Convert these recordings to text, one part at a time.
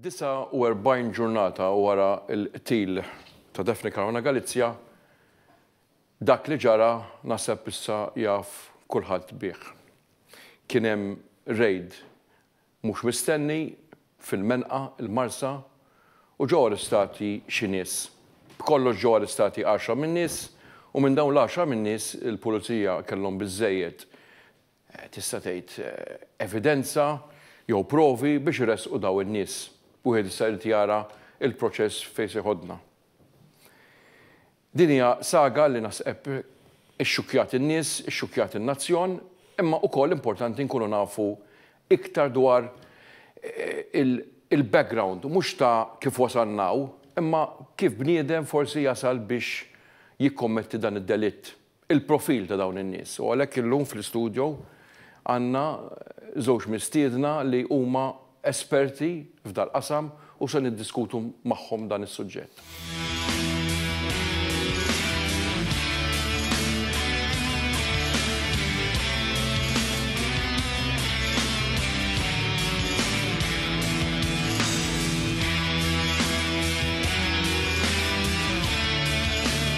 49 ġurnata wara l-qtil ta' Daphne Caruana Galizia, dak li ġara naħseb issa jaf kulħadd bih. Kien hemm rejd mhux mistenni fil-Menqa, il-Marsa, u ġew arrestati xi nies. B'kollox ġew arrestati għaxra min-nies u minn dawn l-għaxra min-nies il-Pulizija kellhom biżżejjed tista' tgħid, evidenza jew provi biex iressqu dawn in-nies. Wieħed issa jrid jara l-proċess fejn se jħoddna. Din hija saga li naħseb ixxukkjat in-nies, ixxukkjat in-nazzjon, imma ukoll importanti nkunu nafu iktar dwar il-background, mhux ta' kif wasalna hawn, imma kif bniedem forsi jasal biex jikkommetti dan id-delitt. il-profil ta' dawn in-nies u għalhekk illum fl-istudjo għandna żewġ mistiedna li huma esperti f'dal-qasam u se niddiskutu magħhom dan is-suġġett.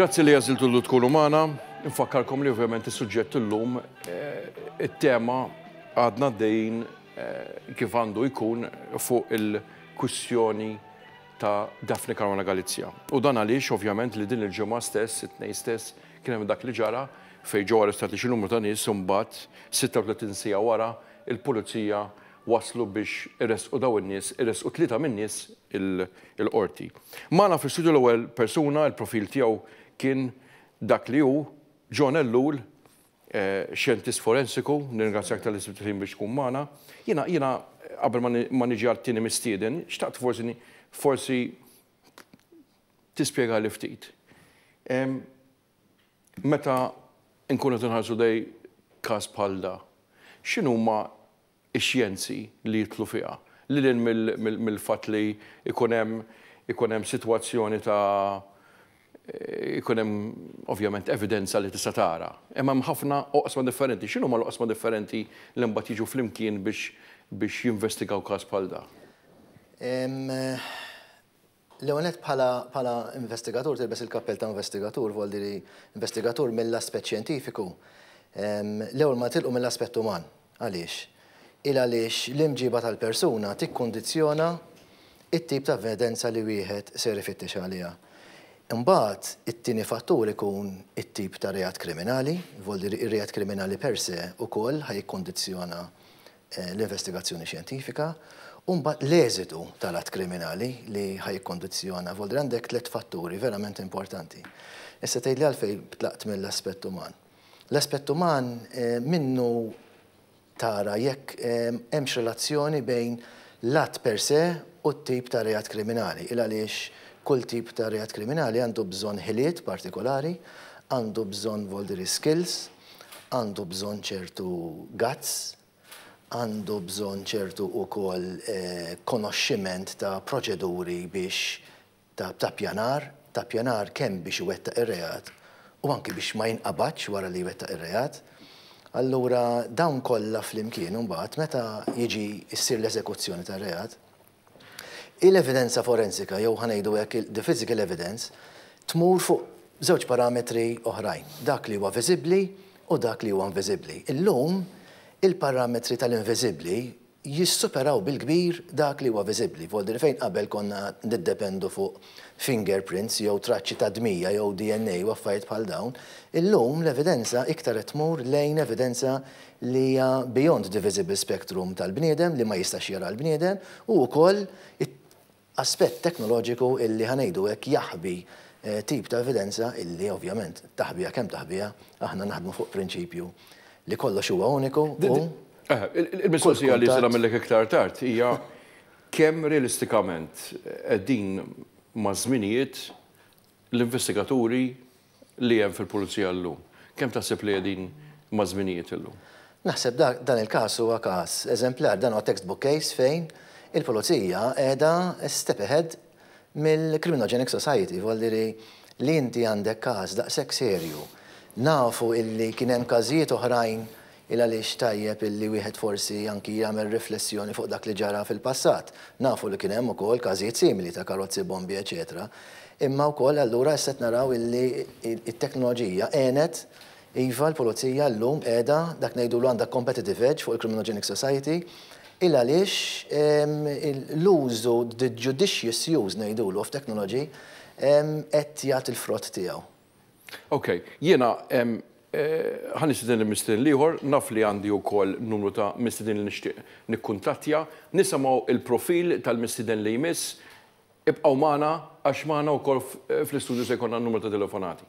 Grazzi li għaziltu l tkunu maħna, nfakkarkom li ovvjament il-sujġett l-lum, eh, il-tema għadna dejn eh, kif għandu jkun fuq il-kwistjoni ta' Daphne Caruana Galizja. U dan għaliex ovvjament li din il-ġemma stess, it-nej stess, Kien hemm dak li ġara fejn ġew arrestati xi numru ta' nies u mbagħad, 36 siegħa wara, il-Pulizija waslu biex iressqu dawn in-nies, iressqu tlieta min-nies il-Qorti. Magħna fl-istudju l-ewwel persuna, il-profil tiegħu kien dak li hu, John Ellul, xjentist forensiku, nirringrazzjak talli sibt il-ħin biex tkun magħna. Jiena, jiena qabel ma niġi għat-tieni mistieden, xtaqt forsi forsi Tispjegali ftit. Meta nkunu qed inħarsu lejn każ bħal da, x'inhuma x-xjenzi li jidħlu fiha? Lil hinn mill-fatt li jkun hemm jkun hemm sitwazzjoni ta' ikun hemm ovvjament evidenza li tista' tara. Imma hemm ħafna oqsma differenti. X'inhuma l-oqsma differenti li mbagħad jiġu flimkien biex biex jinvestigaw każ bħal da? L-ewwel nett bħala bħala investigatur tilbes il-kappell ta' investigatur voldi li investigatur mill-aspett xjentifiku. L-ewwel ma tilqu mill-aspett uman. Għaliex? Il għaliex l-imġiba tal-persuna tikkundizzjona t-tip ta' evidenza li wieħed ser ifittex għaliha. Imbagħad, it-tieni fattur ikun it-tip ta' reat kriminali, voli r-reat kriminali per se wkoll ħa jikkundizzjona l-investigazzjoni xjentifika, u mbagħad l-eżitu tal-att kriminali li ħa jikkundizzjona, voli għandek tliet fatturi verament importanti. Issa tgħidli għalfejn tlaqt mill-aspett uman. L-aspett uman minnu tara jekk hemmx relazzjoni bejn l-att per se u t-tip ta' reat kriminali, il-għaliex kull tip ta' reat kriminali għandu bżonn ħiliet partikolari, għandu bżonn voldiri skills, għandu bżonn ċertu guts, għandu bżonn ċertu ukoll konoxximent ta' proċeduri biex ta' ippjanar, ta' ippjanar kemm biex iwettaq ir-reat u anki biex ma jinqabadx wara li jwettaq ir-reat. Allura dawn kollha flimkien imbagħad meta jiġi ssir l-eżekuzzjoni tar-reat, il-evidenza forensika jew ħa ngħidu hekk the physical evidence tmur fuq żewġ parametri oħrajn, dak li huwa viżibbli u dak li huwa inviżibbli. Illum il-parametri tal-inviżibbli jissuperaw bil-kbir dak li huwa viżibbli. F'Għoldieri fejn qabel konna niddependu fuq fingerprints jew traċċi tad-dmija jew DNA u affarijiet bħal dawn, illum l-evidenza iktar qed tmur lejn evidenza li hija beyond the visible spectrum tal-bniedem, li ma jistax jaraha l-bniedem, u wkoll aspett teknoloġiku illi, ħa ngħidu hekk, jaħbi tip ta' evidenza illi ovvjament taħbiha kemm taħbiha, aħna naħdmu fuq prinċipju li kollox huwa uniku u Il-mistoqsija li se nagħmillek iktar tard hija kemm realistikament qegħdin maż-żminijiet L-investigaturi li hemm fil-Pulizija llum, kemm taħseb li qegħdin maż-żminijiet illum? Naħseb dak, dan il-każ huwa każ eżemplar. Dan huwa text book case fejn il-Pulizija qiegħda step ahead mill-criminogenic society. Voli dhiri li inti għandek każ daqshekk serju, nafu illi kien hemm każijiet oħrajn Il-għaliex tajjeb illi wieħed forsi anki jagħmel riflessjoni fuq dak li ġara fil-passat. Nafu li kien hemm ukoll każijiet simili ta' karozzi bombi eċċetera. Imma wkoll allura issa qed naraw illi t-teknoloġija għenet, iva l-pulizija llum qiegħda, dak ngħidulu għandha competitive edge fuq il-criminogenic society, il-għaliex l-użu, the judicious use ngħidulu of technology, qed jagħti l-frott tiegħu. Ok, jiena ħa nistieden lil mistieden l-ieħor, naf li għandi wkoll numru ta' mistiedin li nixtieq nikkuntattja. Nisimgħu l-profil tal-mistieden li jmiss. Ibqgħu magħna għax magħna wkoll fl-istudju se jkollna numru ta' telefonati.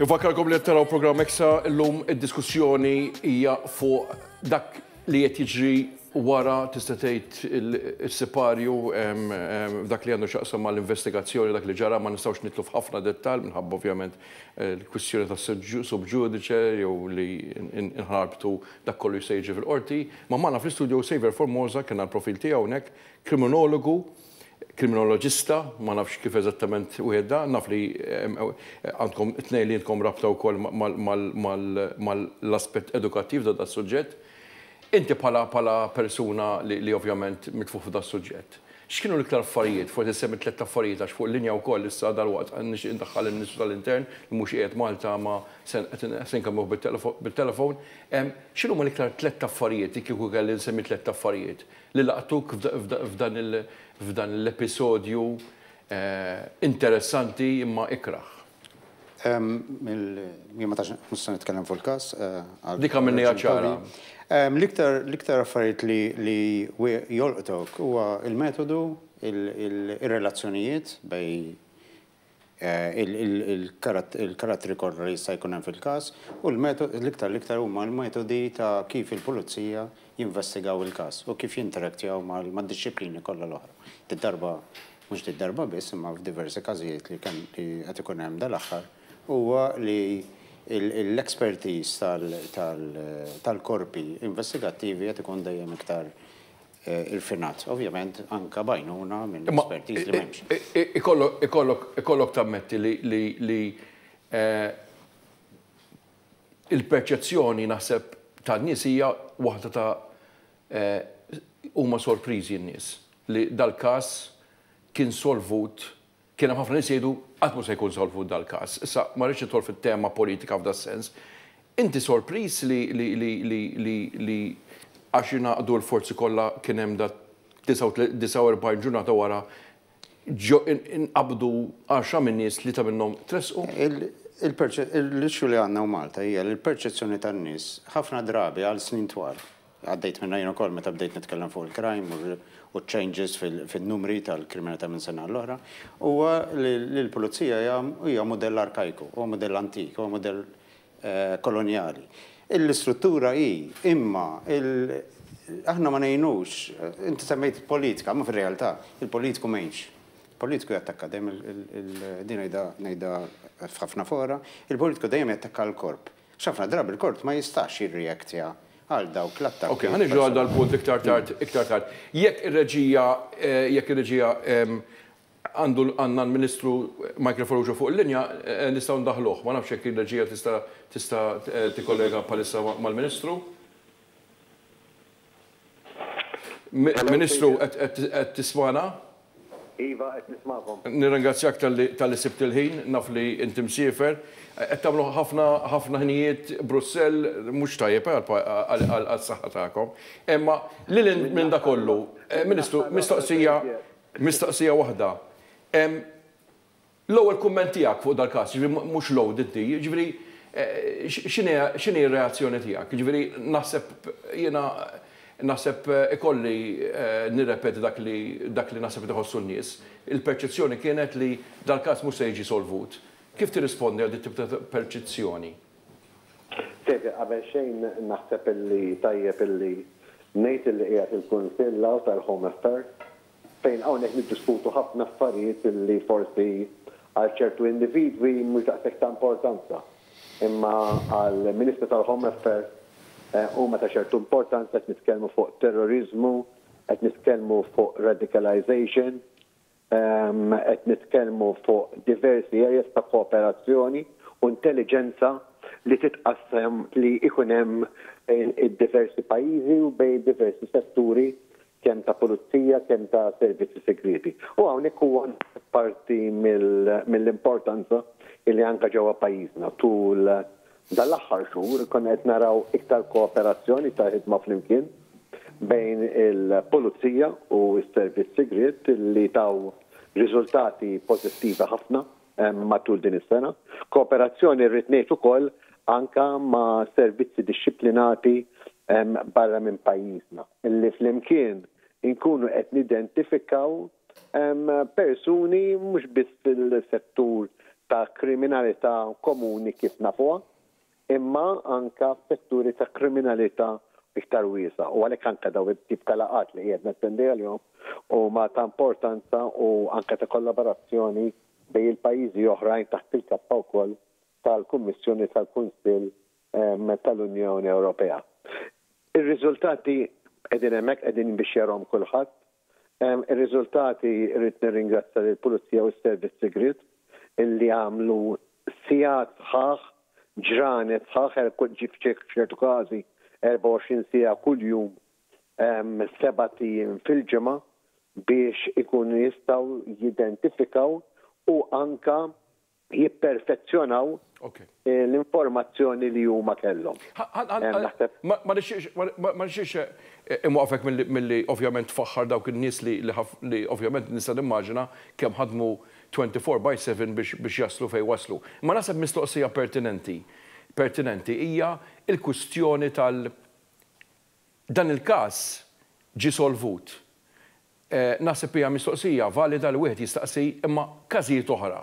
Infakkarkom li qed taraw programm Eksa llum id-diskussjoni hija fuq dak li qed jiġri wara tista' tgħid is-siparju f'dak li għandu x'jaqsam mal-investigazzjoni dak li ġara ma nistgħux nidħlu f'ħafna dettall minħabba ovvjament il-kwistjoni ta' sub ġudice jew li nħarbtu dak kollu jista' jiġri fil-qorti. Ma' magħna fl-istudio Saver Formosa kien għall-profil tiegħu hawnhekk, kriminologu kriminoloġista, ma nafx kif eżattament wieħed da, naf li għandkom it-tnejn li intkom rabta wkoll mal-aspett edukattiv ta' das-suġġett. Inti bħala bħala persuna li li ovvjament mitfugħ f'das-suġġett, x'kienu l-iktar affarijiet, forsi ssemmi tlett affarijiet għax fuq linja wkoll issa dalwaqt nixtieq indaħħal il-Ministru tal-Intern li mhux qiegħed Malta ma se se nkellmuh bit-telefon, x'inhuma l-iktar tlett affarijiet li kieku kelli nsemmi tlett affarijiet li laqtuk f'dan l-episodju interessanti imma ikrah? Jien ma tantx, mhux se nitkellem fuq il-każ għal. Dik għamilniha ċara. L-iktar affarijiet li jolqtok huwa l-metodu, ir-relazzjonijiet bejn il-karattri kollha li jista' jkun hemm fil-każ u l-metodi, l-iktar l-iktar huma l-metodi ta' kif il-pulizija jinvestigaw il-każ u kif jinteraktjaw mad-dixxiplini kollha l-oħra. Did-darba, mhux did-darba biss, imma f'diversi każijiet li qed ikun hemm dal-aħħar, huwa li l-expertise tal-korpi investigattivi qed ikun dejjem iktar irfinat, ovvjament anke b'għajnuna minn espertiż li m'hemmx. Ikollok tammetti li l-perċezzjoni naħseb tan-nies hija waħda ta' huma sorpriżi n-nies li dal-każ kien solvut Kien hemm ħafna nies jgħidu, qatt mhu se jkun solvut dal-każ. Issa, ma rridx nidħol fit-tema politika f'das-sens. Inti sorpriż li li li li għax ingħaqdu l-forzi kollha kien hemm da' 49 ġurnata wara ġo inqabdu għaxra min-nies tlieta minnhom tressqu? Il-perċe, l-issue li għandna u Malta hija li l-perċezzjoni tan-nies ħafna drabi għal snin twal Għaddejt minnha jien ukoll meta bdejt nitkellem fuq il-crime u ċ-changes fin-numri tal-kriminalità minn sena għall-oħra, huwa li l-pulizija hija mudell arkajku, huwa mudell antik, huwa mudell kolonjali. L-istruttura hi, imma aħna ma ngħinux, inti semmejt il-politika, imma fir-realtà il-politiku m'għinx. Il-politiku jattakka dejjem, din ngħidha f'ħafna fora, il-politiku dejjem jattakka l-korp. X'ħafna drabi l-Kort ma jistax jirreactja għal dawk l-attakki personali. Ok, ħa niġu għal dal-punt iktar tard, iktar tard. Jekk ir-reġija, jekk ir-reġija, għandu, għandna l-Ministru Michael Farrugia fuq il-linja, nistgħu ndaħħluh. Ma nafx jekk ir-reġija tista' tista' tikkollega bħalissa mal-Ministru. Ministru, qed tismagħna? Iva, qed nismagħkom. Nirringrazzjak talli sibt il-ħin, naf li inti msiefer. Qed tagħmlu ħafna ħafna ħinijiet Brussell, mhux tajjeb għas-saħħa tagħkom. Imma lil hinn minn dak kollu, Ministru, mistoqsija mistoqsija waħda. L-ewwel kumment tiegħek fuq dal-każ, jiġifieri mhux load inti, jiġifieri x'inhi x'inhi r-reazzjoni tiegħek? Jiġifieri naħseb jiena naħseb ikolli nirrepeti dak li dak li naħseb qed iħossu n-nies. Il-perċezzjoni kienet li dal-każ mhux se jiġi solvut. Kif tirrispondi għal dit-tip ta' perċezzjoni? Xejn, qabel xejn naħseb illi tajjeb illi ngħid illi qiegħed il-Kunsill hawn tal-Home Affairs Fejn hawnhekk niddiskutu ħafna affarijiet li forsi għal ċertu individwi mhux daqshekk ta' importanza, imma għal Ministru tal-Home Affairs huma ta' ċertu importanza, qed nitkellmu fuq terroriżmu, qed nitkellmu fuq radicalisation, qed nitkellmu fuq diversi areas ta' kooperazzjoni u intelliġenza li titqassam li jkun hemm id-diversi pajjiżi u bejn diversi setturi kemm ta' pulizija, kemm ta' servizzi sigrieti. U hawnhekk huwa naħseb parti mill-importanza li anke ġewwa pajjiżna tul dan l-aħħar xhur konna qed naraw iktar kooperazzjoni, iktar ħidma flimkien bejn il-pulizija u s-servizz sigriet li taw riżultati pożittivi ħafna. matul din is-sena. Kooperazzjoni rrid ngħid ukoll anka ma' servizzi dixxiplinati barra minn pajjiżna li flimkien inkunu qed nidentifikaw persuni mhux biss fil-settur ta' kriminalità komuni kif nafuha, imma anke f'setturi ta' kriminalità iktar wiesgħa u għalhekk anke dawn it-tip ta' laqgħat li qiegħed nattendi għalihom huma ta' importanza u anke ta' kollaborazzjoni bejn il-pajjiżi oħrajn taħt il-kappa wkoll tal-Kummissjoni u tal-Kunsill tal-Unjoni Ewropea. Ir-riżultati qegħdin hemmhekk, qegħdin biex jarahom kulħadd. Ir-riżultati rrid nirringrazzja lill-Pulizija u s-Servizz Sigriet illi għamlu sigħat sħaħ, ġranet sħaħ, f'ċertu każi 24 siegħa kuljum sebat ijiem fil-ġimgħa biex ikunu jistgħu jidentifikaw u anke jipperfezzjonaw l-informazzjoni li huma kellhom. Ma nixtieqx inwaqqfek milli ovvjament tfaħħar dawk in-nies li ovvjament nista' nimmaġina kemm ħadmu 24 by 7 biex jaslu fejn waslu. Imma naħseb mistoqsija pertinenti pertinenti hija l-kwistjoni tal dan il-każ ġie solvut. Naħseb hija mistoqsija valida li wieħed jistaqsi, imma każijiet oħra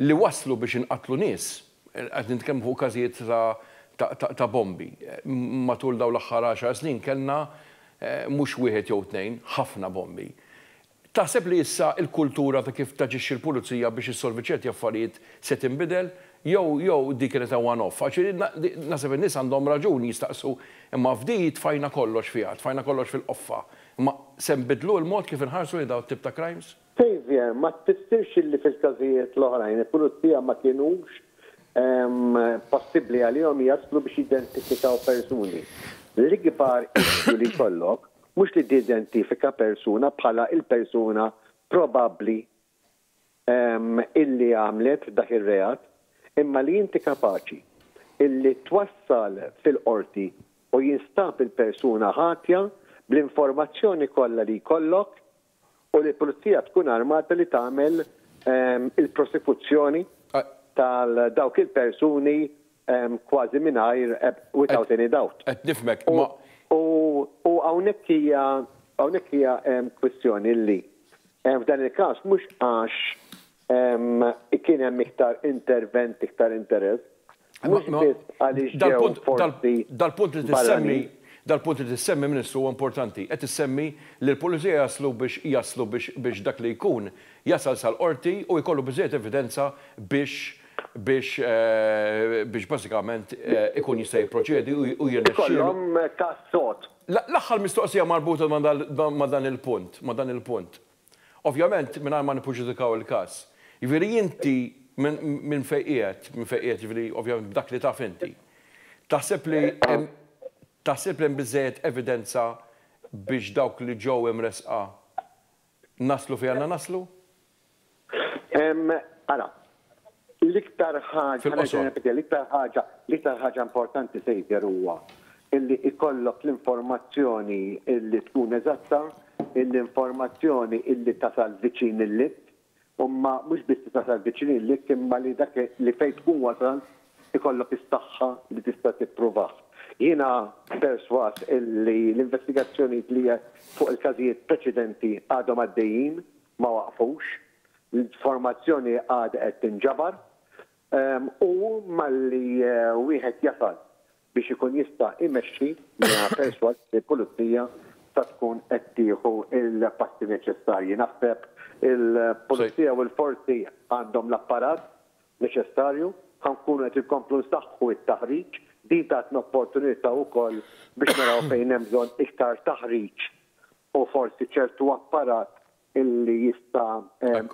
li wasslu biex inqatlu nies, qed nitkellmu fuq każijiet ta' ta' bombi, matul dawn l-aħħar għaxar snin kellna mhux wieħed jew tnejn, ħafna bombi. Taħseb li issa l-kultura ta' kif taġixxi l-pulizija biex issolvi ċerti affarijiet se tinbidel? Jew jew dik kienet a one off? Għax irid na, naħseb in-nies għandhom raġun jistaqsu, imma f'di tfajna kollox fiha, tfajna kollox fil-qoffa. Imma se nbiddlu l-mod kif inħarsu lejn dawn it-tip ta' crimes? Saviour, ma tfissirx illi fil-każijiet l-oħrajn il-pulizija ma kienux possibbli għalihom jaslu biex jidentifikaw persuni. L-ikbar issue li jkollok mhux li tidentifika persuna bħala il-persuna probabbli illi għamlet dak ir-reat, imma li inti kapaċi illi twassal fil-Qorti u jinstab il-persuna ħatja bl-informazzjoni kollha li jkollok u li l-Pulizija tkun armata li tagħmel il-prosekuzzjoni tal-dawk il-persuni kważi mingħajr without any doubt. Qed nifhmek, imma. U hawnhekk hija hawnhekk hija kwistjoni li f'dan il-każ mhux għax kien hemm iktar intervent, iktar interess, mhux biss għaliex ġew forsi. Dal-punt li tissemmi, dal-punt li tissemmi, Ministru, huwa importanti. Qed issemmi li l-pulizija jaslu biex jaslu biex dak li jkun jasal sal-Qorti u jkollu biżżejjed evidenza biex biex biex bażikament ikun jista' jipproċedi u jirnexxielu. Ikollhom każ sod. L-aħħar mistoqsija marbuta ma' dan il-punt, ma' dan il-punt. Ovvjament mingħajr ma nippreġudikaw il-każ. Jiġifieri inti minn fejn qiegħed, minn fejn qiegħed jiġifieri ovvjament b'dak li taf inti, taħseb li hemm taħseb li hemm biżżejjed evidenza biex dawk li ġew imressqa Naslu fejn għandna naslu? Ara, l-iktar ħaġa, l-iktar ħaġa, l-iktar ħaġa importanti Xavier huwa illi ikollok l-informazzjoni illi tkun eżatta, l-informazzjoni illi tasal viċin il-lib, Imma mhux biss li tasal viċin lik imma li dak li fejn tkun wasalt ikollok is-saħħa li tista' tippruvah. Jiena persważ illi l-investigazzjonijiet li fuq il-każijiet preċedenti għadhom għaddejjin, ma waqfux, l-informazzjoni għadha qed tinġabar u malli wieħed jasal biex ikun jista' imexxi jiena persważ li l-pulizija sa tkun qed tieħu l-passi neċessarji. Naħseb il-pulizija u l-forzi għandhom l-apparat neċessarju, ħa nkunu qed inkomplu nsaħħu t-taħriġ, din tatna opportunità wkoll biex naraw fejn hemm bżonn iktar taħriġ u forsi ċertu apparat li jista'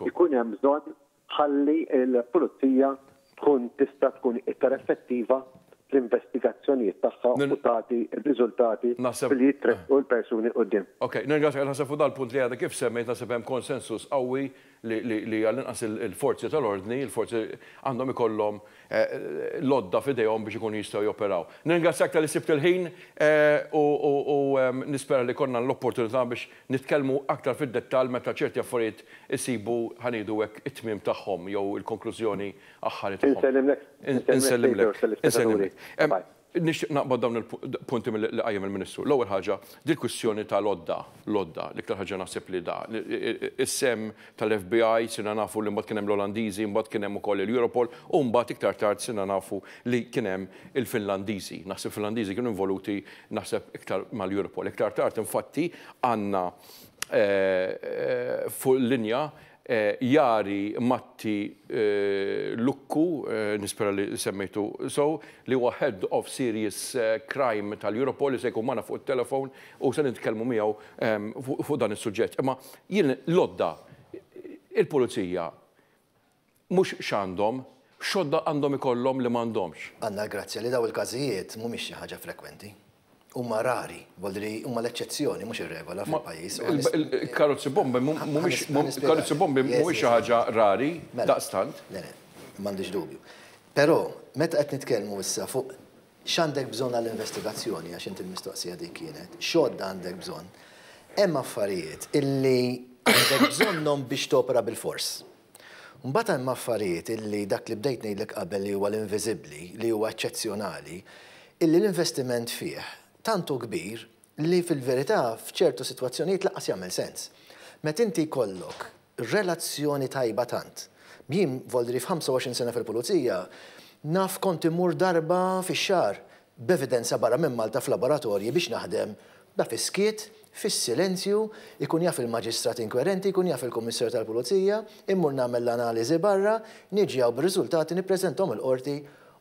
ikun hemm bżonn ħalli l-pulizija tkun tista' tkun iktar effettiva fl-investigazzjonijiet tagħha u tagħti r-riżultati billi jittressqu l-persuni quddiem. Ok, nirringrazzjak. Naħseb fuq dan il-punt li għadek kif semmejt naħseb hemm konsensus qawwi li għall-inqas il-forzi tal-ordni, il-forzi għandhom ikollhom l-għodda f'idejhom biex ikunu jistgħu joperaw. Nirringrazzjak talli sibt il-ħin u nispera li jkollna l-opportunità biex Nitkellmu aktar fid-dettall meta ċerti affarijiet isibu, ħa ngħidu hekk, it-tmiem tagħhom jew il-konklużjoni aħħari tagħhom. Insellimlek. Insellimlek. Insellimlek. Nixtieq naqbad dawn il-punti li qajjem il-Ministru. L-ewwel ħaġa, dil-kwistjoni tal-għodda, l-għodda, l-iktar ħaġa naħseb li da, is-sehem tal-FBI, sirna nafu li mbagħad kien hemm l-Olandiżi, mbagħad kien hemm ukoll il-Europol u mbagħad iktar tard sirna nafu li kien hemm il-Finlandiżi. Naħseb il-Finlandiżi kienu involuti naħseb iktar mal-Europol. Iktar tard infatti għandna fuq il-linja Jari Matti Lukku, nispera li semmejtu sew, li huwa Head of Serious Crime tal-Europol li se jkun magħna fuq it-telefon. u se nitkellmu miegħu fuq dan is-suġġett. Imma jien l-għodda il-pulizija mhux x'għandhom, x'għodda għandhom ikollhom li m'għandhomx. Għandna l-grazzja li dawn il-każijiet mhumiex xi ħaġa frekwenti. Huma rari, volli li huma l-eċċezzjoni mhux ir-regola fil-pajjiż. Il-karozzi bombi mhumiex karozzi bombi mhumiex xi ħaġa rari daqstant. Le, le, m'għandix dubju. Però meta qed nitkellmu issa fuq X'għandek bżonn għall-investigazzjoni, għax int il-mistoqsija dik kienet, x'għodda għandek bżonn? Hemm affarijiet illi għandek bżonnhom biex topera bilfors. Mbagħad hemm affarijiet illi dak li bdejt ngħidlek qabel li huwa l-inviżibbli, li huwa eċċezzjonali, illi l-investiment fih tant hu kbir li fil-verità f'ċertu sitwazzjonijiet lanqas jagħmel sens. Meta inti jkollok relazzjoni tajba tant. Jien Volderi f'25 sena fil-Pulizija naf kont immur darba fix-xahar b'evidenza barra minn Malta f'laboratorji biex naħdem da fis-skiet, fis-silenzju, ikun jaf il-Maġistrat Inkwerenti, jkun jaf il-Kummissarju tal-Pulizija, immur nagħmel l-analiżi barra, niġi hawn b'riżultati nippreżentahom il-Qorti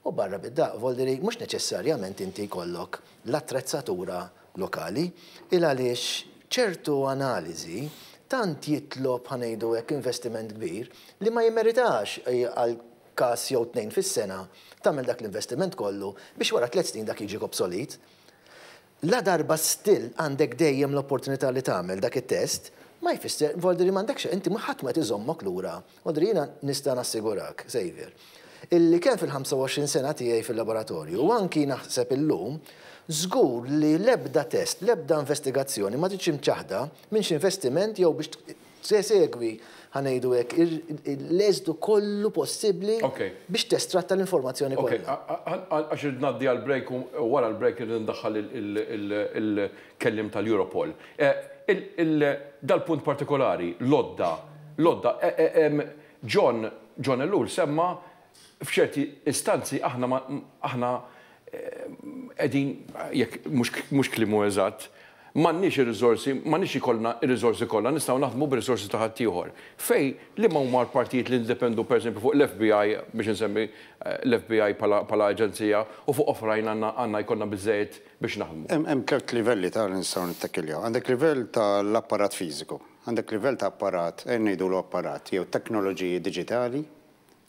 u barra bid-daqq. Volderi mhux neċessarjament inti jkollok. l-attrezzatura lokali, il għaliex ċertu analiżi tant jitlob, ħa ngħidu hekk, investiment kbir, li ma jimmeritax għal każ jew tnejn fis-sena tagħmel dak l-investiment kollu biex wara tliet snin dak jiġi obsolit. Ladarba still għandek dejjem l-opportunità li tagħmel dak it-test, ma jfisser, vuol dire m'għandekx, inti ħadd ma qed iżommok lura Audrey, jiena nista' nassigurak, Xavier, illi kemm fil-25 sena tiegħi fil-laboratorju u anki naħseb illum, żgur li l-ebda test, l-ebda investigazzjoni ma ġietx imċaħħda minn xi investiment jew biex tsegwi, ħa ngħidu hekk, l-eżitu kollu possibbli biex testratta l-informazzjoni kollha. Okej, għax irrid ngħaddi għall-break u wara l-break irrid indaħħal Kelliem tal-Europol. Dal-punt partikolari, l-għodda, l-għodda, John, John Ellul semma f'ċerti istanzi aħna ma, aħna qegħdin, jekk mhux, mhux kliemu eżatt, m'għandniex ir-riżorsi, m'għandniex ikollna r-riżorsi kollha, nistgħu naħdmu bir-riżorsi ta' ħaddieħor. Fejn, liema huma l-partijiet li niddependu pereżempju fuq l-FBI, biex insemmi l-FBI bħala, bħala aġenzija, u fuq oħrajn għandna, għandna jkollna biżżejjed, biex naħdmu. Hemm tliet livelli ta' li nistgħu nittakiljaw. Għandek livell ta' l-apparat fiżiku. Għandek livell ta' apparat, ejja ngħidulu apparat, jew teknoloġiji diġitali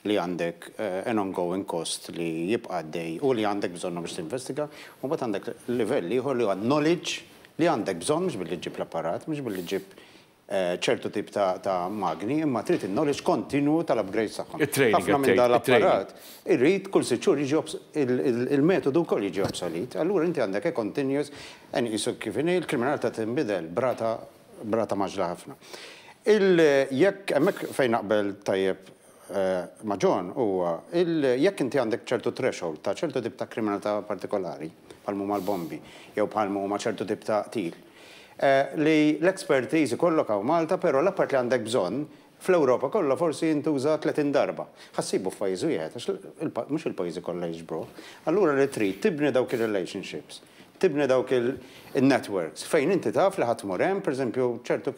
li għandek an ongoing cost li jibqa' għaddej u li għandek bżonnhom biex tinvestiga. U mbagħad għandek livell ieħor li huwa knowledge li għandek bżonn mhux billi ġġib l-apparat, mhux billi ġġib ċertu tip ta' magni imma trid in-knowledge kontinwu tal-upgrades tagħhom. Ħafna minn dan l-apparat irid kull sitt xhur jiġi il-metodu wkoll jiġi obsolit. Allura inti għandek a continuous and isu kif inhi l-kriminalità tinbidel b'rata b'rata mgħaġġla ħafna. Il jekk hemmhekk fejn naqbel tajjeb ma' John huwa il jekk inti għandek ċertu threshold ta' ċertu tip ta' kriminalità partikolari bħal m'huma l-bombi jew bħal m'huma ċertu tip ta' qtil, li l-expertise ikollok hawn Malta però l-appart li għandek bżonn fl-Ewropa kollha forsi jintuża 30 darba. Ħa ssibu f'pajjiż wieħed għax mhux il-pajjiżi kollha jiġbruh. Allura li trid tibni dawk ir-relationships, tibni dawk in-networks fejn inti taf li ħa tmur hemm, pereżempju ċertu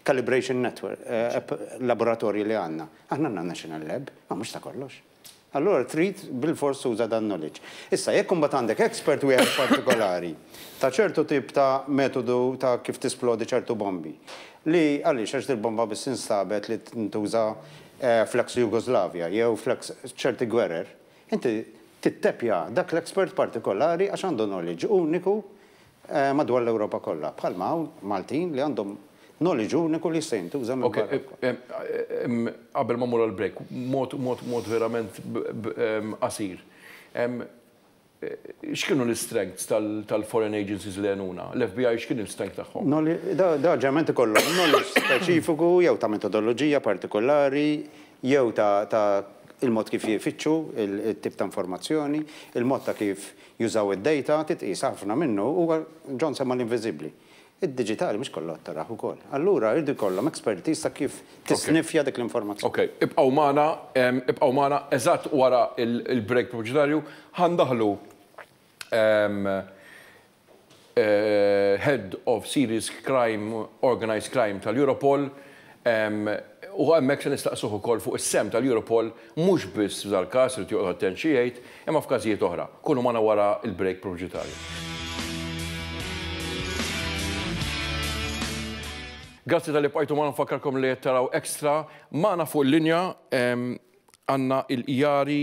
calibration network, laboratorji li għandna. Aħna għandna National Lab, ma mhux ta' kollox. Allura trid bilfors tuża dan knowledge. Issa, jekk imbagħad għandek expert wieħed partikolari ta' ċertu tip ta' metodu ta' kif tisplodi ċertu bombi, li għaliex għax dil-bomba biss instabet li tintuża fl-ex Jugoslavja jew fl-ex ċerti gwerer, inti tittepja dak l-expert partikolari għax għandu knowledge uniku madwar l-Ewropa kollha, bħalma hawn Maltin li għandhom knowledge uniku li jista' jintuża minn barra. Okej, qabel ma mmur għall-break, mod, mod, mod verament qasir. X'kienu l-istrengths tal-foreign agencies li għenuna? L-FBI x'kien il-strength tagħhom? Dawn ġeneralment ikollhom knowledge speċifiku jew ta' metodoloġija partikolari jew ta' il-mod kif ifittxu it-tip ta' informazzjoni, il-mod ta' kif Jużaw id-dejta, titqies ħafna minnu u John semma l-inviżibbli. Id-diġitali mhux kollha tarah ukoll. Allura jridu jkollhom expertise ta' kif tisniffja dik l-informazzjoni. Okej, ibqgħu magħna, ibqgħu magħna, eżatt wara l-break pubbċitarju ħa ndaħlu Head of Serious Crime, Organised Crime tal-Europol, u hemmhekk se nistaqsuh ukoll fuq is-sehem tal-Europol mhux biss f'dal-każ, irid joqgħod attent xi jgħid, imma f'każijiet oħra. Kunu magħna wara l-break pubbġitarju. Grazzi talli bqajtu magħna, nfakkarkom li qed taraw Extra. Magħna fuq il-linja għandna il-Jari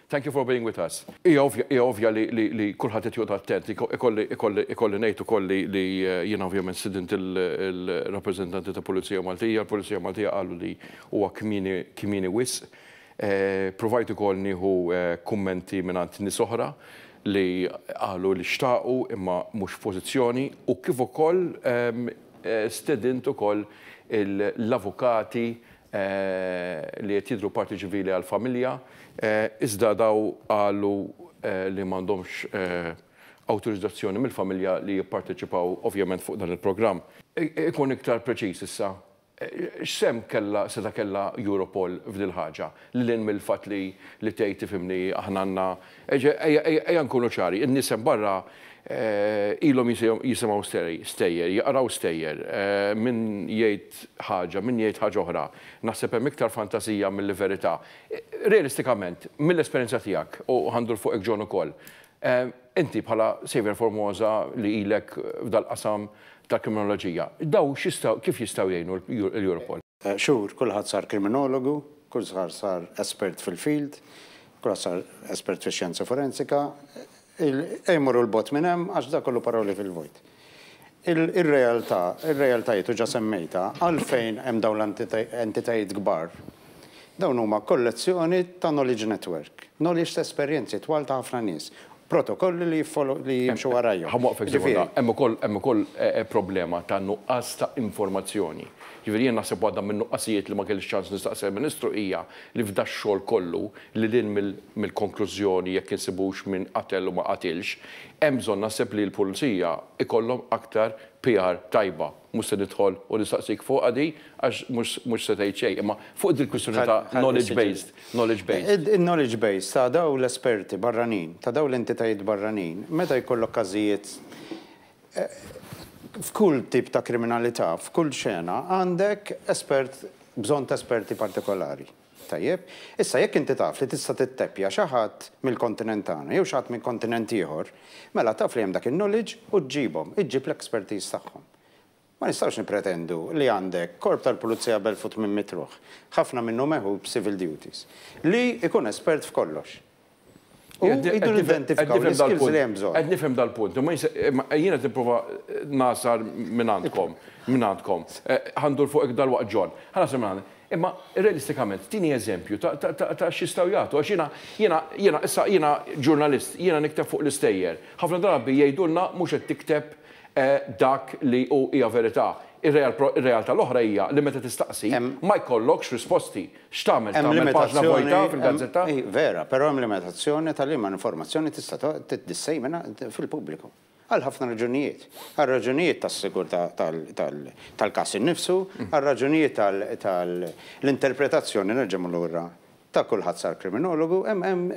Thank you for being with us. Hija ovvja, hija ovvja li, li, li kulħadd qed joqgħod attent. Iko- Ikolli, ikolli, ikolli ngħid ukoll li, li eh, jiena ovvjament stidint il- il-rappreżentanti ta' Pulizija Maltija. Il-Pulizija Maltija qalu li huwa kmieni, kmieni wisq. Eh, Pruvajt ukoll nieħu eh, kummenti mingħand nies oħra li qalu li xtaqu imma mhux f'pożizzjoni u kif ukoll ehm, eh, stedint ukoll il- l-avukati li qed jidhru parti ċivili għall-familja, iżda dawn qalu li m'għandhomx awtorizzazzjoni mill-familja li jipparteċipaw ovvjament fuq dan il-programm. Ikun iktar preċiż issa, x'sehem kellha, setgħa kellha Europol f'dil-ħaġa, lil hinn mill-fatt li tgħid tifhimni aħna għandna Ejja nkunu ċari, in-nies hemm barra ilhom jisimgħu stejjer, jaqraw stejjer, min jgħid ħaġa, min jgħid ħaġa oħra. Naħseb hemm iktar fantasija milli verità. Realistikament, mill-esperjenza tiegħek, u ħa ndur fuqek John ukoll, inti bħala Saviour Formosa li ilek f'dal-qasam tal-kriminoloġija, dawn kif jistgħu jgħinu l-Europol? Xhur, kulħadd sar kriminologu, kulħadd sar espert fil-field, Grassar, espert fix-xjenza forensika, Ejja mmorru 'l bogħod minn hemm għax dak kollu paroli fil-vojt. Ir-realtà, ir-realtajiet u ġa semmejtha, għalfejn hemm dawn l-entitajiet kbar? Dawn huma kollezzjoni ta' knowledge network, knowledge ta' esperjenzi twal ta' ħafna nies. protokolli li jiffollow li jimxu warajhom. Ħa waqfek sekonda. Ġifieri- Hemm ukoll hemm ukoll problema ta' nuqqas ta' informazzjoni. Jiġifieri jien naħseb waħda min-nuqqasijiet li ma kellix ċans nistaqsi l-Ministru hija li f'dax-xogħol kollu, lil hinn mill mill-konklużjoni jekk insibux min qatel u ma qatilx, hemm bżonn naħseb li l-Pulizija jkollhom aktar PR tajba. Mhux se nidħol u nistaqsik fuqha din għax mhux mhux se tgħid xejn, imma fuq dil-kwistjoni ta' knowledge based, knowledge based. Il-knowledge based ta' dawn l-esperti barranin, ta' dawn l-entitajiet barranin, meta jkollok każijiet f'kull tip ta' kriminalità, f'kull xena, għandek espert, bżonn ta' esperti partikolari. Tajjeb. Issa jekk inti taf li tista' titteppja xi ħadd mill-kontinent tagħna jew xi ħadd minn kontinent ieħor, mela taf li hemm dak in-knowledge u ġġibhom, iġġib l-expertise tagħhom. Ma nistgħux nippretendu li għandek korp tal-pulizija b'elf u tmien mitt ruħ, ħafna minnu megħħud b'civil duties, li jkun espert f'kollox. U jiddu nidentifikaw l-skills li hemm bżonn. Qed nifhem dal-punt, imma jien qed nipprova ngħasar minn għandkom, minn għandkom. Ħa ndur fuqek dalwaqt John. Ħa ngħasar minn għandek. Imma realistikament, tini eżempju ta' x'jistgħu jagħtu. Għax jiena, jiena, jiena, issa jiena ġurnalist, jiena nikteb fuq l-istejjer. Ħafna drabi jgħidulna mhux qed tikteb dak li hu hija verità. Ir-realtà l-oħra hija li meta tistaqsi ma jkollokx risposti. X'tagħmel? Tagħmel paġna vojta fil-gazzetta? Vera, però hemm limitazzjoni ta' liema informazzjoni tista' tissejmina fil-pubbliku. Għal ħafna raġunijiet. Għal raġunijiet tas-sigurtà tal-każ innifsu, għal raġunijiet tal-interpretazzjoni nerġa' mmur lura ta' kulħadd sar kriminologu, hemm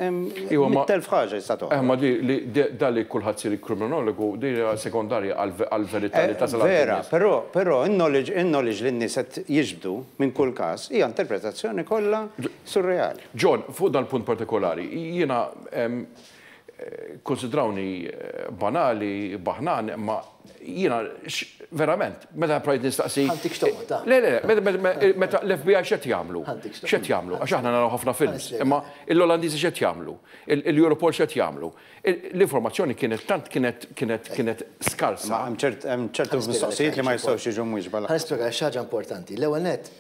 mitt elf ħaġa tista' toħroġ. Imma dan li kulħadd isir kriminologu din hija sekondarja għall-verità li tasal għall-nies. Vera, però in-knowledge li n-nies qed jiġbdu, minn kull każ, hija interpretazzjoni kollha surreali. John, fuq dal-punt partikolari, jiena, kkunsidrawni banali, baħnan, imma jiena verament, meta provajt nistaqsi. Ħadtik x'toqgħod, Le, le, le, meta l-FBI x'qed jagħmlu? X'qed jagħmlu? Għax aħna naraw ħafna films, imma l-Olandiżi x'qed jagħmlu? Il-Europol x'qed jagħmlu? L-informazzjoni kienet tant kienet kienet kienet skarsa. Imma hemm ċert hemm ċertu mistoqsijiet li ma jistgħux jiġu mwiġba lanqas. Ħa nispjegalek xi ħaġa importanti. L-ewwel nett,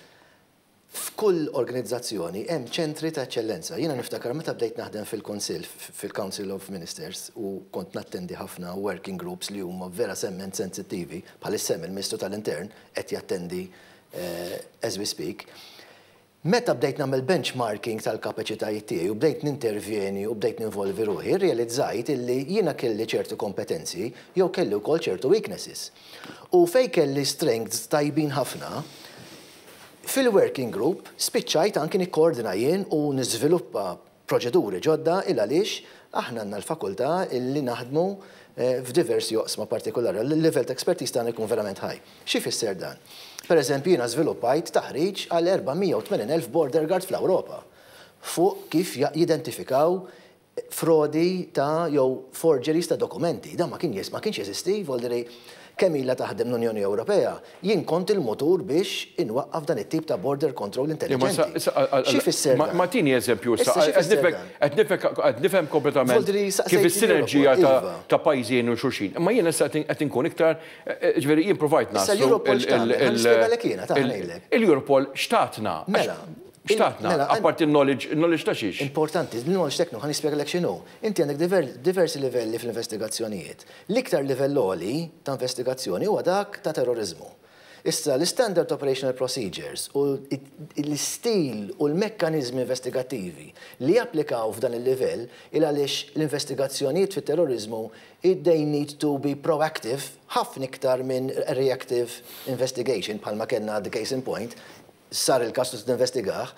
f'kull organizzazzjoni hemm ċentri ta' eċċellenza. Jiena niftakar meta bdejt naħdem fil-Kunsill, fil-Council of Ministers, u kont nattendi ħafna working groups li huma verasement sensittivi, bħalissa hemm il-Ministru tal-Intern qed jattendi as we speak, Meta bdejt nagħmel benchmarking tal-kapaċitajiet tiegħi u bdejt nintervjeni u bdejt ninvolvi ruħi, rrealizzajt illi jiena kelli ċertu kompetenzi jew kelli wkoll ċertu weaknesses. U fejn kelli strengths tajbin ħafna, fil-working group spiċċajt anki nikkoordina jien u niżviluppa proċeduri ġodda il għaliex aħna għandna l-fakultà li naħdmu f'diversi oqsma partikolari, li l-livell ta' expertise tagħna jkun verament high. Xi jfisser dan? Pereżempju jiena żviluppajt taħriġ għal 480,000 border guard fl-Ewropa fuq kif jidentifikaw frodi ta' jew forgeries ta' dokumenti. Dan ma kienx jeżisti, jvolli li Kemm ilha taħdem l-Unjoni Ewropea, jien kont il-mutur biex inwaqqaf dan it-tip ta' border control intelliġenti. Xi jfisser dan? Ma tini eżempju issa. Issa xi jfisser dan? Qed nifhem kompletament. Voltu li saqsejtni l-ewwel. Kif is-sinerġija ta' pajjiżi jgħinu xulxin. Imma jien issa qed inkun iktar, jiġifieri jien provajt ngħid. Issa l-Europol x'tagħmel? Ħalli nispjegalek jiena, ta' ngħidlek. Il-Europol x'tatna? Mela. X'tatna? Apparti n-knowledge, in-knowledge ta' xiex? Importanti, l-knowledge tekniku, ħa nispjegalek x'inhu. Inti għandek diversi livelli fl-investigazzjonijiet. L-iktar livell għoli ta' investigazzjoni huwa dak ta' terroriżmu. Issa, l-Standard Operational Procedures u l-istil u l-mekkaniżmi investigattivi li japplikaw f'dan il-livell il għaliex l-investigazzjonijiet fit-terroriżmu they need to be proactive ħafna iktar minn reactive investigation bħalma kellna the case in point sar il-każ trid tinvestigah,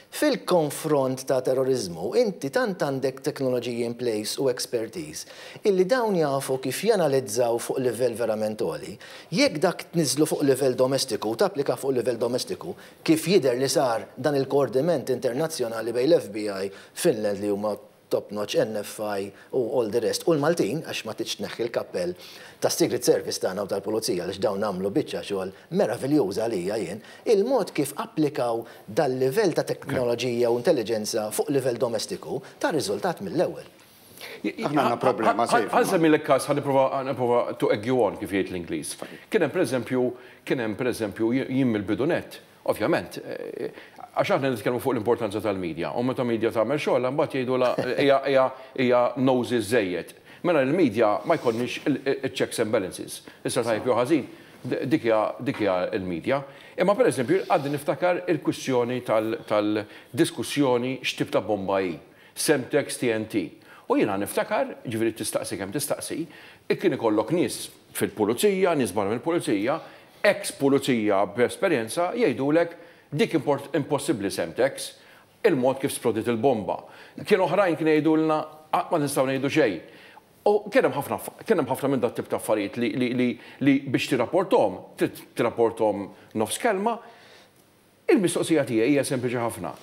fil-konfront ta' terroriżmu inti tant għandek teknoloġiji in place u expertise illi dawn jafu kif janalizzaw fuq livell verament għoli. Jekk dak tniżżlu fuq livell domestiku u tapplikah fuq livell domestiku, kif jidher li sar dan il-koordiment internazzjonali bejn l-FBI, Finland li huma top notch, NFI u all the rest, u l-Maltin, għax ma tridx tneħħi l-kappell tas-Secret Service tagħna u tal-Pulizija għaliex dawn għamlu biċċa xogħol meraviljuża għalija jien, il-mod kif applikaw dal-livell ta' teknoloġija u intelliġenza fuq livell domestiku ta riżultat mill-ewwel. Aħna għandna problema serja. Ħa nsemmilek każ, ħa nipprova to egg you on kif jgħid l-Ingliż. Kien hemm pereżempju, kien hemm pereżempju jien mill-bidu nett, Ovvjament, għax aħna nitkellmu fuq l-importanza tal-media, u meta media tagħmel xogħolha mbagħad jgħidulha hija hija nosy żżejjed. Mela l-media ma jkollniex il-checks and balances. Issa tajjeb jew ħażin, dik hija dik hija l-media. Imma pereżempju għadni niftakar il-kwistjoni tal tal-diskussjoni x'tip ta' bomba hi, Semtex, TNT. U jiena niftakar, jiġifieri tistaqsi kemm tistaqsi, kien ikollok nies fil-pulizija, nies barra mill-pulizija, Eks pulizija b'esperjenza jgħidulek dik impossibbli Semtex, il-mod kif splodiet il-bomba. Kien oħrajn kien jgħidulna qatt ma nistgħu ngħidu xejn. U kien hemm ħafna kien hemm ħafna minn dat-tip ta' affarijiet li li li li biex tirrapporthom trid tirrapporthom nofs kelma. Il-mistoqsija tiegħi hija sempliċi ħafna.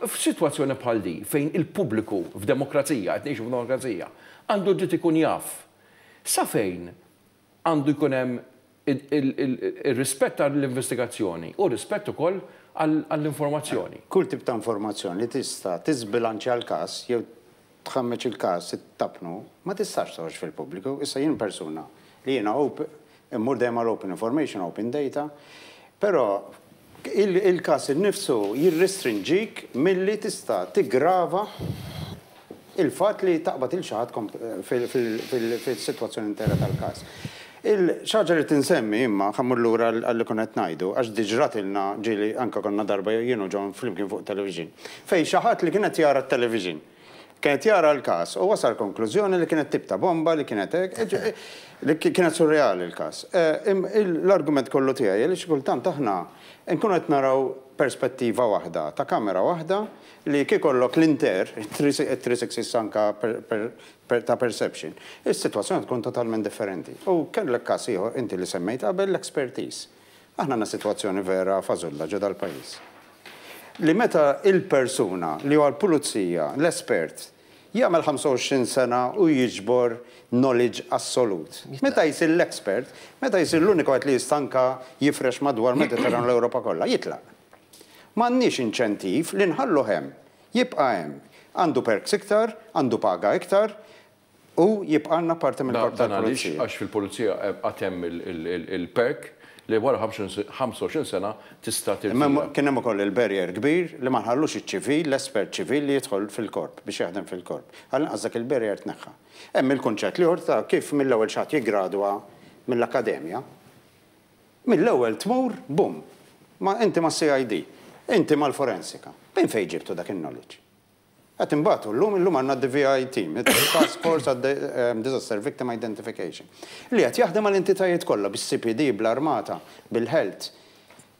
F'sitwazzjoni bħal di fejn il-pubbliku f'demokrazija, qed ngħixu f'demokrazija, għandu dritt ikun jaf sa fejn għandu jkun hemm ir-rispett għall-investigazzjoni u rispett ukoll għall-informazzjoni. Kull tip ta' informazzjoni li tista' tiżbilanċja l-każ jew tħammeġ il-każ, ittappnu, ma tistax toħroġ fil-pubbliku. Issa jien persuna li jiena immur dejjem għal open information, open data, però, Il-każ innifsu jirrestrinġik milli tista' tiggrava il-fatt li taqbad lil xi ħadd fis-sitwazzjoni intera tal-każ. Xi ħaġa li tinsemmi imma, ħa mmur lura għal li konna qed ngħidu, għax diġ ratilna, ġieli anke konna darba jien u John flimkien fuq television, fejn xi ħadd li kien qed jara t-television, Kien qed jara l-każ u wasal konklużjoni li kienet tip ta' bomba li kienet hekk, li kienet surreali l-każ. L-argument kollu tiegħi hi li xi kultant aħna nkunu qed naraw perspettiva waħda ta' kamera waħda li kieku jkollok l-inter, it-three sixties anke ta' perception, is-sitwazzjoni tkun totalment differenti. U kellek każ ieħor inti li semmejt qabel l-expertise. Aħna għandna sitwazzjoni vera fażulla ġo dal-pajjiż. Li meta il-persuna li huwa l-pulizija, l-espert, jagħmel 25 sena u jiġbor knowledge assolut. Meta jsir l-expert, meta jsir l-uniku wieħed li jista' anke jifrex madwar l-Mediterran u l-Ewropa kollha, jitlaq. M'għandniex inċentiv li nħalluh hemm. Jibqa' hemm. Għandu perks iktar, għandu paga iktar, Hu jibqalna parti mill-Korp tal-Pulizija. Dan għaliex? Għax fil-Pulizija għad hemm il-perk li wara 25 sena tista' tirtira. Imma kien hemm ukoll il-barrier kbir li ma nħallux iċ-ċivil, l-espert ċivil li jidħol fil-Korp biex jaħdem fil-Korp. Għall-inqas dak il-barrier tneħħa. Hemm il-kunċett l-ieħor ta' kif mill-ewwel xi ħadd jiggradwa mill-akkademja, mill-ewwel tmur bum! Ma inti mas-CID, inti mal-forensika. Minn fejn ġibtu dak in-knowledge? Qed inbatu llum, illum għandna d-DVI Team, it-Task Force għad-Disaster Victim Identification, li qed jaħdem mal-entitajiet kollha, bis-CPD, bl-Armata, bil-Health,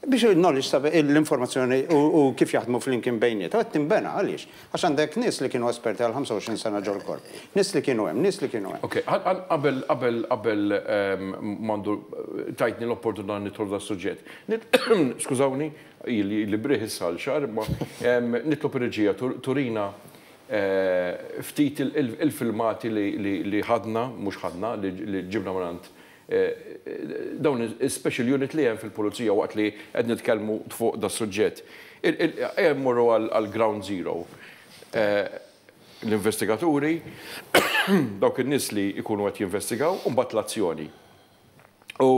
biex il-knowledge ta' l-informazzjoni u kif jaħdmu flimkien bejniethom qed tinbena. Għaliex? Għax għandek nies li kienu esperti għal 25 sena ġol-Korp. Nies li kienu hemm, nies li kienu hemm. Ok, qabel, qabel, qabel m'għandu tajtni l-opportunità nidħol f'das-suġġett. Skużawni, Ili li b'riħ issa għal xahar, imma nitlob ir-reġija turina ftit il-filmati li ħadna, mhux ħadna, li ġibna mingħand dawn is-special unit li hemm fil-Pulizija waqt li qed nitkellmu fuq das-suġġett. Ejja mmorru għal ground zero. L-investigaturi, dawk in-nies li jkunu qed jinvestigaw, u mbagħad l-azzjoni. U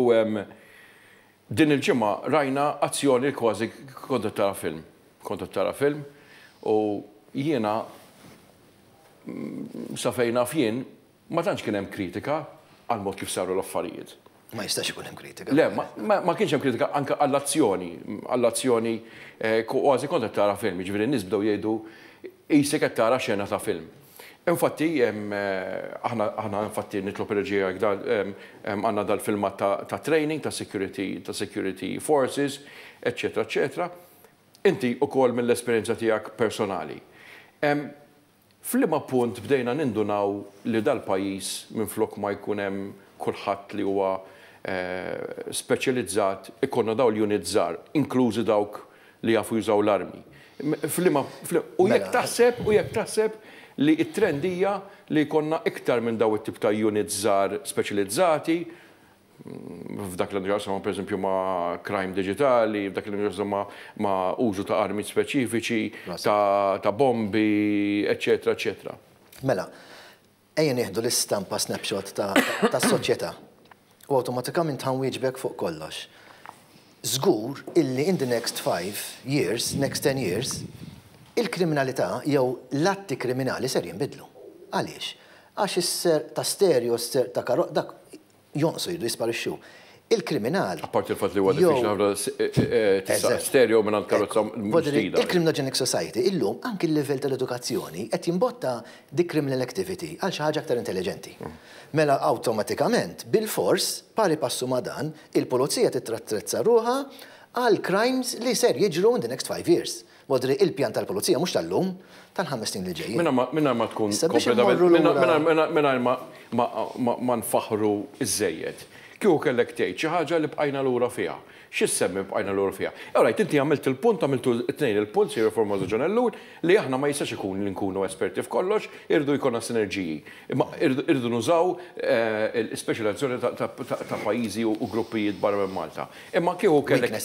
Din il-ġimgħa rajna azzjoni li kważi kont qed tara film. Kont qed tara film u jiena sa fejn naf jien ma tantx kien hemm kritika għall-mod kif saru l-affarijiet. Ma jistax ikun hemm kritika. Le, ma kienx hemm kritika anke għall-azzjoni, għall-azzjoni kważi kont qed tara film, jiġifieri n-nies bdew jgħidu qisek qed tara xena ta' film. Infatti, aħna, aħna infatti nitlob reġija jekk da, għandna dal-filmat ta' ta' training ta' security, ta' security forces, eċċetera, eċċetera. Inti ukoll mill-esperjenza tiegħek personali, f'liema punt bdejna nindunaw li dal-pajjiż minflok ma jkun hemm kulħadd li huwa speċjalizzat, ikollna dawn l-units żgħar, inklużi dawk li jafu jużaw l-armi. F'liema, u jekk taħseb, u jekk taħseb li t-trend hija li jkollna iktar minn dawn it-tip ta' units żgħar speċilizzati, f'dak li għandu x'jaqsam pereżempju ma' crime diġitali, f'dak li għandu x'jaqsam ma' użu ta' armi speċifiċi, ta' bombi, eċċetera, eċċetera. Mela, Ejja nieħdu l-istampa snapshot tas-soċjetà u awtomatikamint ħa nwieġbek fuq kollox. Żgur illi in the next five years, next ten years, il-kriminalità jew l-atti kriminali ser jinbidlu. Għaliex? Għax is-serq ta' stereo, s-serq ta' karozza, dak jonqsu, jridu jisparixxu. Il-kriminal. Apparti l-fatt li huwa diffiċli ħafna tista' stereo mingħand karozza mhux ġdida. Il-criminogenic society illum anki l-livell tal-edukazzjoni qed jimbotta dik criminal activity għal xi ħaġa aktar intelliġenti. Mela awtomatikament, bilfors, pari passu ma' dan, il-pulizija titrattrezza ruħha għall-crimes li ser jiġru in the next five years. Modri, Il-pjan tal-Pulizija mhux tal-lum, tal-ħames snin li ġejjin. Mingħajr ma tkun kompletament, mingħajr ma nfaħħru żżejjed, kieku kellek tgħid xi ħaġa li bqajna lura fiha, xi ssemmi bqajna lura fiha? All right, inti għamilt il-punt, għamiltu t-tnejn il-punt, Sir Formoso John Ellul, li aħna ma jistax ikun li nkunu esperti f'kollox, irridu jkollna sinerġiji. Imma irridu nużaw l-ispeċjalizzazzjoni ta' pajjiżi u gruppijiet barra minn Malta. Imma kieku kellek.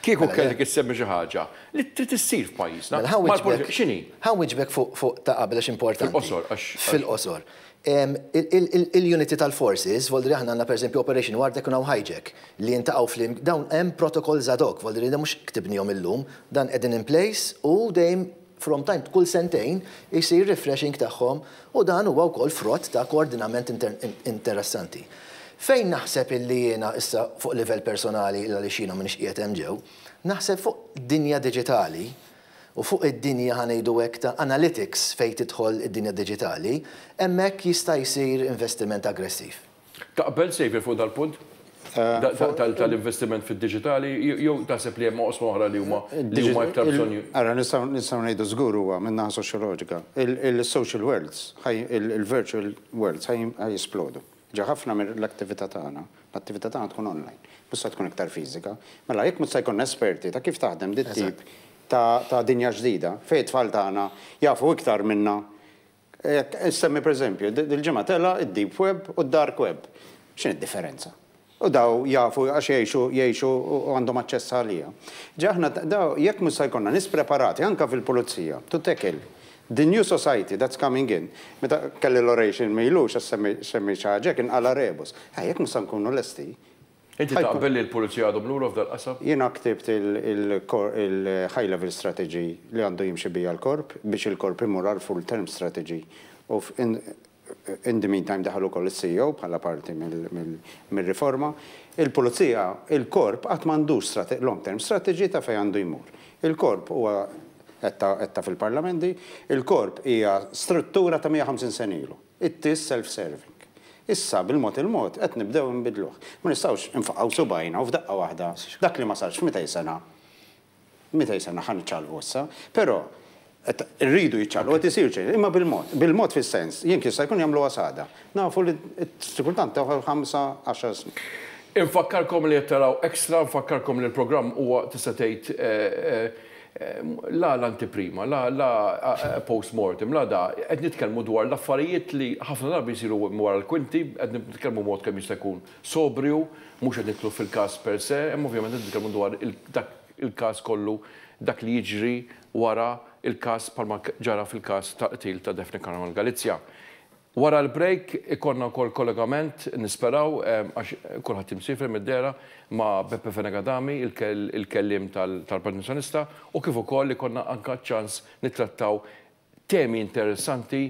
Kieku kellek issemmi xi ħaġa li trid issir f'pajjiżna. Mela ħa wieġbek. X'inhi? Ħa wieġbek fuq ta' qabel għax importanti. Fil-qosor għax. Fil-qosor. Il-uniti tal-forces, voldri aħna għandna pereżempju Operation War Deck u Now Hijack li jiltaqgħu flimk, dawn hemm protocols ad hoc, voldri li mhux ktibnihom illum, dan qegħdin in place u dejjem From time kull sentejn isir refreshing tagħhom u dan huwa wkoll frott ta' koordinament interessanti. Fejn naħseb illi jiena issa fuq livell personali għaliex jiena m'iniex qiegħed hemm ġew, naħseb fuq dinja diġitali u fuq id-dinja ħa ngħidu hekk ta' analytics fejn tidħol id-dinja diġitali, hemmhekk jista' jsir investiment aggressiv. Taqbel, Xavier, fuq dal-punt tal-investiment fid-diġitali jew taħseb li hemm oqsma oħra li huma iktar bżonn? Ara, nistgħu ngħidu żgur huwa min-naħa soċjoloġika. Il-social worlds, il-virtual worlds ħa jisplodu. Ġa ħafna mill-attività tagħna, l-attività tagħna tkun online, mhux se tkun iktar fiżika. Mela jekk mhux se jkollna esperti ta' kif taħdem dit-tip ta' dinja ġdida, fejn it-tfal tagħna jafu iktar minna Jekk insemmi pereżempju, dil-ġimgħa tela' d-deep web u d-dark web. X'inhi d-differenza? U daw jafu għax jgħixu jgħixu u għandhom aċċess għaliha. Ġa aħna daw jekk mhux se jkollna nies preparati anke fil-pulizija to tackle the new society that's coming in. Meta kelli l-oration m'ilux għax semmiet xi ħaġa hekk inqala' rebus. Jekk mhux se nkunu lesti, Inti taqbel li l-Pulizija għadhom lura f'dal-qasam? Jiena ktibt il-High Level Strategy li għandu jimxi biha l-Korp biex il-Korp imur għall-Full Term Strategy u in the meantime daħal ukoll is-CEO bħala parti mir-riforma. Il-Pulizija, il-Korp qatt m'għandux long term strategy ta' fejn għandu jmur. Il-Korp huwa, għedtha fil-Parlament din, il-Korp hija struttura ta' 150 sena ilu. it-TIS self-serving. Issa, bil-mod il-mod, qed nibdew inbiddluh. Ma nistgħux infaqgħu subgħajna u f'daqqa waħda, dak li ma sarx f'mitej sena, mitej sena ħa niċċallqu issa. Però, qed irridu jiċċallqu, qed isir xejn, imma bil-mod. Bil-mod fis-sens, jekk jista' jkun jagħmluha sagħda. Nafu li xi kultant teħu ħamsa, għaxar snin. Infakkarkom li qed taraw Extra, nfakkarkom li l-programm huwa, tista' tgħid, La l-antiprima, la, la post-mortem, la da, qed nitkellmu dwar l-affarijiet li ħafna drabi jsiru wara l-kwinti, qed nitkellmu b'mod kemm jista' jkun sobriju, mhux qed nidħlu fil-każ per se, imma ovvjament qed nitkellmu dwar dak il-każ kollu, dak li jiġri wara l-każ bħalma ġara fil-każ tal-qtil ta' Daphne Caruana Galizia. Wara l-break ikollna wkoll kollegament, nisperaw, għax kulħadd imsiefer mid-dehra, ma' Beppe Fenech Adami, il-kelliem tal-Partit Nazzjonalista, u kif ukoll ikollna anke ċ-ċans nittrattaw temi interessanti,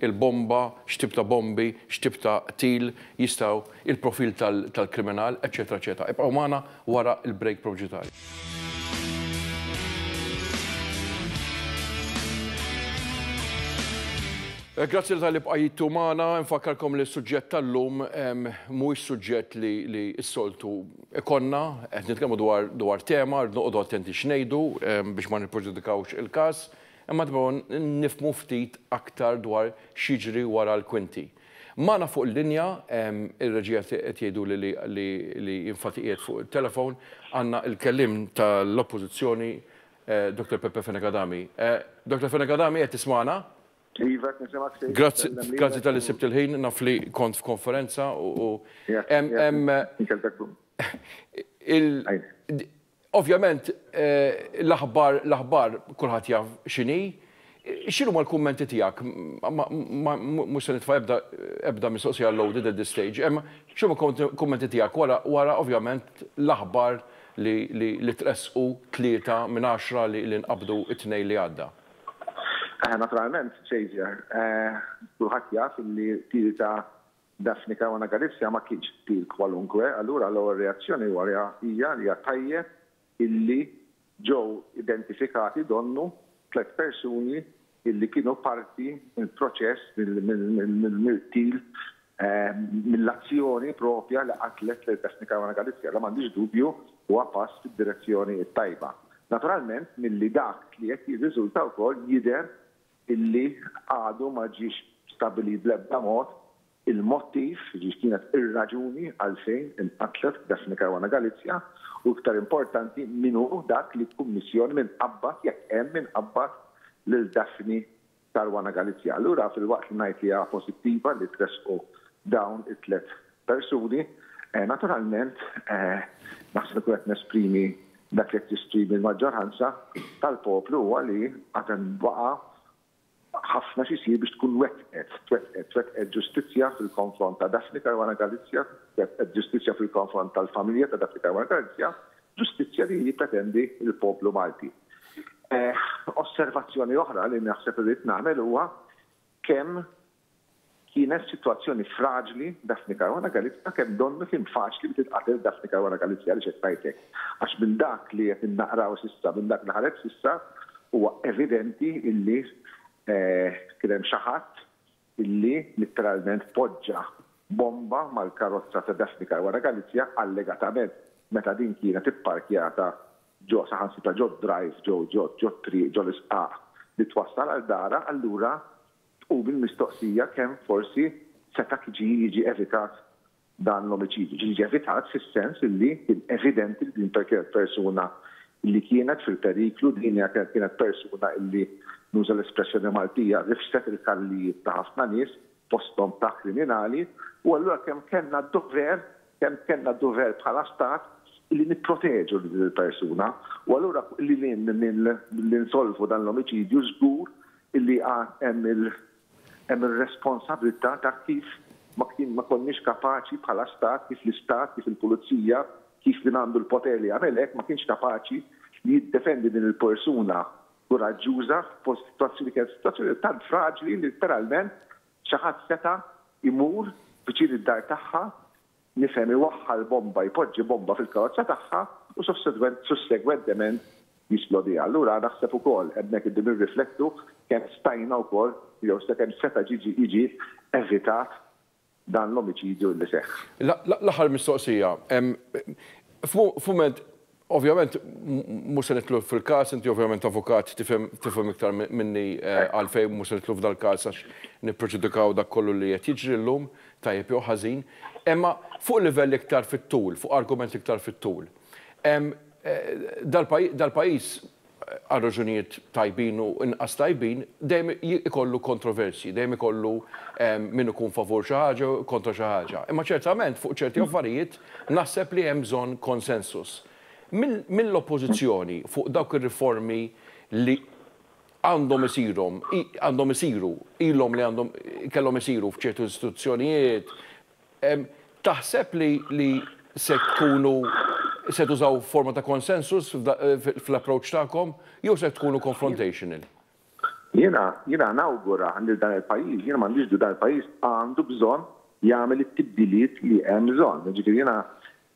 il-bomba, x'tip ta' bombi, x'tip ta' qtil jistgħu il-profil tal-kriminal, eċċetera eċċetera. Ibqgħu magħna wara l-break proġitarju. Grazzi talli bqajtu magħna. Infakkarkom li s-suġġett tal-lum mhuwiex suġġett li s-soltu ikollna. Qed nitkellmu dwar tema, rridu noqogħdu attenti x'ngħidu biex ma nippreġudikawx il-każ. Imma nibgħu nifhmu ftit aktar dwar x'jiġri wara l-kwinti. Magħna fuq il-linja, ir-reġija qed jgħiduli li infatti qiegħed fuq it-telefown, għandna il-kelliem tal-Oppożizzjoni Dr. Peppe Fenech Adami. Dr. Fenech Adami qed tismagħna? Iva qed nisimgħek Sid. Grazzi, grazzi talli sibt il-ħin, naf li kont f'konferenza u hemm, hemm, Ovvjament l-aħbar l-aħbar kulħadd jaf x'inhi. X'inhuma l-kummenti tiegħek? Mhux se nitfa' ebda ebda mistoqsija loaded at this stage. Imma x'inhuma l-kummenti tiegħek wara wara ovvjament l-aħbar li li tressqu tlieta minn għaxra li li nqabdu t-Tnejn li għadda? Naturalment, Xavier, kulħadd jaf li tlieta Daphne Caruana Galizia ma kienx qtil kwalunkwe, allura l-ewwel reazzjoni wara hija li hija tajjeb illi ġew identifikati donnu tliet persuni illi kienu parti mill-proċess, mill-qtil, mill-azzjoni proprja li qatlet lil Daphne Caruana Galizia. Dan m'għandix dubju huwa pass fid-direzzjoni t-tajba. Naturalment milli dak li qed jirriżulta wkoll jidher illi għadu ma ġiex stabbilit bl-ebda mod il-mottiv, jiġifieri x'kienet ir-raġuni għalfejn inqatlet Daphne Caruana Galizia u iktar importanti min hu dak li jkummissjon min qabbad, jekk hemm min qabbad, lil Daphne Caruana Galizia. Allura filwaqt li ngħid li hija pożittiva li tressqu dawn it-tliet persuni, naturalment naħseb li nkun qed nesprimi dak li qed jesprimi l-maġġoranza tal-poplu huwa li għad hemm baqa' ħafna x'isir biex tkun wettqet, twettqet, twettqet ġustizzja fil-konfront ta' Daphne Caruana Galizia, twettqet ġustizzja fil-konfront tal-familja ta' Daphne Caruana Galizia, ġustizzja li jippretendi l-poplu Malti. Osservazzjoni oħra li naħseb irrid nagħmel huwa kemm Kienet f'sitwazzjoni fraġli Daphne Caruana Galizia kemm donnu kien faċli li titqatel Daphne Caruana Galizia għaliex qed ngħid hekk għax minn dak li qed innaqraw s'issa minn dak li ħareġ s'issa huwa evidenti illi kien hemm xi ħadd illi litteralment poġġa bomba mal-karozza ta' Daphne Caruana Galizia allegatament meta din kienet ipparkjata ġo saħansitra ġo drive ġo ġo ġo triq ġo l-isqaq li twassal għal darha allura Tqum il-mistoqsija kemm forsi seta' kġi jiġi evitat dan l-omiċidju. Ġi jiġi evitat fis-sens illi kien evidenti li din kienet persuna illi kienet fil-periklu, din hija kienet persuna illi, nuża l-espressjoni Maltija, rifset il-kallijiet ta' ħafna nies, fosthom ta' kriminali, u allura kemm kellna d-dover Kemm kellna d-dover bħala Stat li nipproteġu lil din il-persuna u allura lil hinn minn li nsolvu dan l-omiċidju żgur li għad hemm hemm ir-responsabbiltà ta' kif ma konniex kapaċi bħala Stat, kif l-Istat, kif il-Pulizija, kif min għandu l-poter li jagħmel hekk ma kienx kapaċi li jiddefendi din il-persuna kuraġġuża f'sitwazzjoni li kienet sitwazzjoni tant fraġli li letteralment Xi ħadd seta' jmur viċin id-dar tagħha, nifhem iwaħħal bomba, jpoġġi bomba fil-karozza tagħha u sussegwentement jisplodiha. Allura naħseb ukoll hemmhekk irdu nirriflettu kemm stajna wkoll jew kemm seta' jiġi evitat dan l-omiċidju li seħħ. L-aħħar mistoqsija, f'mument Ovvjament mhux se nidħlu fil-każ, inti ovvjament avukat tifhem iktar minni għalfejn mhux se nidħlu f'dal-każ għax nippreġudikaw dak kollu li qed jiġri llum, tajjeb jew ħażin. Imma fuq livell iktar fit-tul, fuq argument iktar fit-tul, dal-pajjiż, għal raġunijiet tajbin u inqas tajbin, dejjem ikollu kontroversji, dejjem ikollu min ikun favur xi ħaġa u kontra xi ħaġa. Imma ċertament fuq ċerti affarijiet naħseb li hemm bżonn konsensus. Mill-Oppożizzjoni fuq dawk ir-riformi li għandhom isirhom, għandhom isiru, ilhom li għandhom kellhom isiru f'ċertu istituzzjonijiet, Taħseb li se tkunu se tużaw forma ta' consensus fl-approach tagħkom jew se tkunu confrontational? Jiena, jiena nawgura lil dan il-pajjiż, jiena m'għandix dubju dan il-pajjiż għandu bżonn jagħmel it-tibdiliet li hemm bżonn. Jiġifieri jiena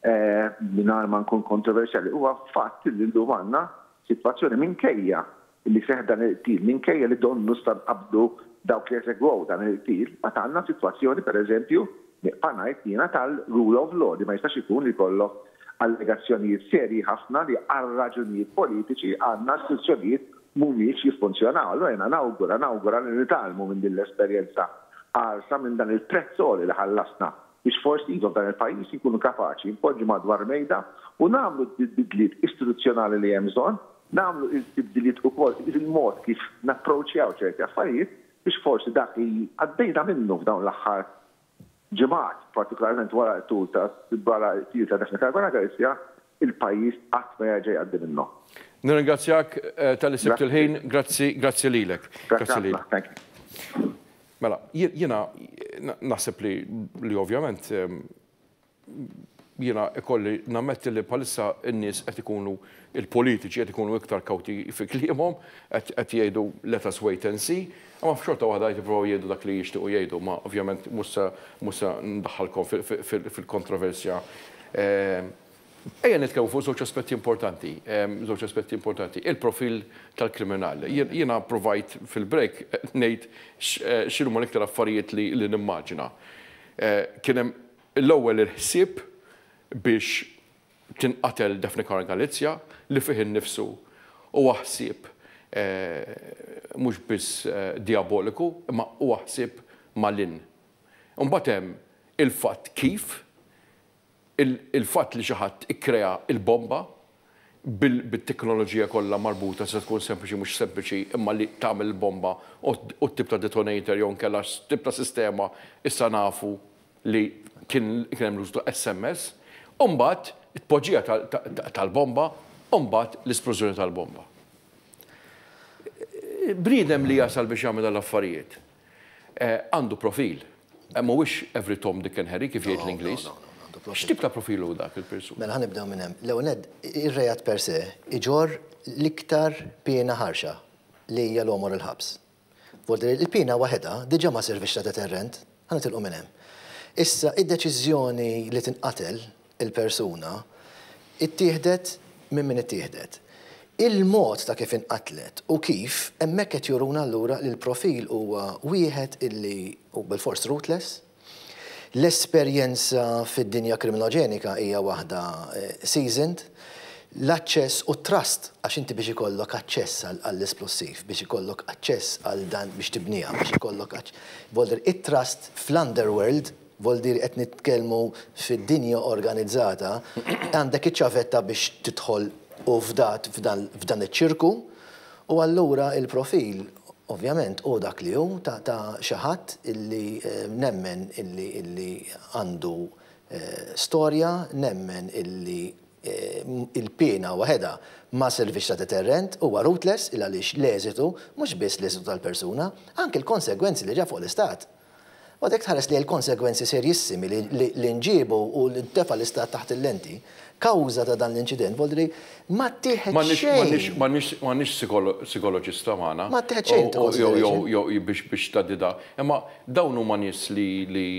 Mingħajr ma nkun kontroversjali, huwa fatt li llum għandna sitwazzjoni minkejja li seħħ dan il-qtil, minkejja li donnu sta nqabdu dawk li esegwew dan il-qtil, għad għandna sitwazzjoni, pereżempju, nieqfa' ngħid jiena, tal-rule of law li ma jistax ikun li jkollok allegazzjonijiet serji ħafna li għal raġunijiet politiċi għandna istituzzjonijiet mhumiex jiffunzjonaw. Allura jiena nawgura, nawgura li nitgħallmu minn din l-esperjenza qarsa, minn dan il-prezz għoli li ħallasna. biex forsi iva f'dan il-pajjiż inkunu kapaċi npoġġu madwar mejda u nagħmlu d-bidliet istituzzjonali li hemm bżonn, nagħmlu il-tibdiliet ukoll fil-mod kif napproċċjaw ċerti affarijiet biex forsi dak li għaddejna minnu f'dawn l-aħħar ġimgħat, partikolarment wara l-qtil ta' Daphne Caruana Galizia, il-pajjiż qatt ma jerġa' jgħaddi minnhom. Nirringrazzjak talli sibt il-ħin. Grazzi, grazzi lilek. Grazzi ħafna, thank you. Mela, jiena naħseb li li ovvjament jiena ikolli nammetti li bħalissa n-nies qed ikunu il-politiċi qed ikunu iktar kawti fi kliemhom, qed jgħidu let us wait and see, Imma xorta waħda jippruvaw jgħidu dak li jixtiequ jgħidu, imma ovvjament mhux se mhux se ndaħħalkom fil-kontroversja. Ejja nitkellmu fuq żewġ aspetti importanti, żewġ aspetti importanti, il-profil tal-kriminal. Jiena pruvajt fil-break ngħid x'inhuma l-iktar affarijiet li nimmaġina. Kien hemm l-ewwel il-ħsieb biex Kien qatel Daphne Caruana Galizia li fih innifsu huwa ħsieb mhux biss dijaboliku imma huwa ħsieb malinn. Imbagħad hemm il-fatt kif il-fatt li xi ħadd ikkrea l-bomba bit-teknoloġija kollha marbuta tista' tkun sempliċi mhux sempliċi imma li tagħmel il-bomba u t-tip ta' detonator jew inkella x'tip ta' sistema issa nafu li kien hemm l-użu ta' SMS, u mbagħad it-tpoġġija tal-bomba u mbagħad l-isplużjoni tal-bomba. Bniedem li jasal biex jagħmel dan l-affarijiet għandu profil. Mhuwiex every Tom, Dick and Harry kif jgħid l-Ingliż. X'tip ta' profil hu dak il-persuna? Mela ħa nibdew minn hemm. L-ewwel nett, ir-reat per se jġorr l-iktar piena ħarxa li hija l-għomor il-ħabs. B'mod li l-piena waħedha diġà ma sservitx ta' deterrent, ħa nitilqu minn hemm. Issa, id-deċiżjoni li tinqatel il-persuna ttieħdet minn min ittieħdet. Il-mod ta' kif inqatlet u kif, hemmhekk qed juruna allura li l-profil huwa wieħed illi hu bilfors ruthless, L-esperjenza fid-dinja kriminoġenika hija waħda seasoned. L-aċċess u t-trust, għax inti biex ikollok aċċess għall-esplussiv, biex ikollok aċċess għal dan biex tibniha, biex ikollok aċċ. It-trust fl-underworld, vol dir qed nitkellmu fid-dinja organizzata, għandek iċ-ċavetta biex tidħol u fdat f'dan iċ-ċirku U allura il-profil, ovvjament, hu dak li hu ta' xi ħadd illi nemmen illi għandu storja, nemmen illi l-piena waħedha ma sservix ta' deterrent, huwa rootless il-għaliex l-eżitu, mhux biss l-eżitu tal-persuna, anki l-konsegwenzi li ġab fuq l-Istat, Mbagħad jekk tħares lejn il-konsegwenzi serjissimi li nġiebu u li ntefa' l-Istat taħt il-lenti kawża ta' dan l-inċident, voli li ma ttieħed xejn. M'għandniex sikoloġista magħna. Ma ttieħed xejn into consideration. Jew jew biex biex tgħaddi da. Imma dawn huma nies li li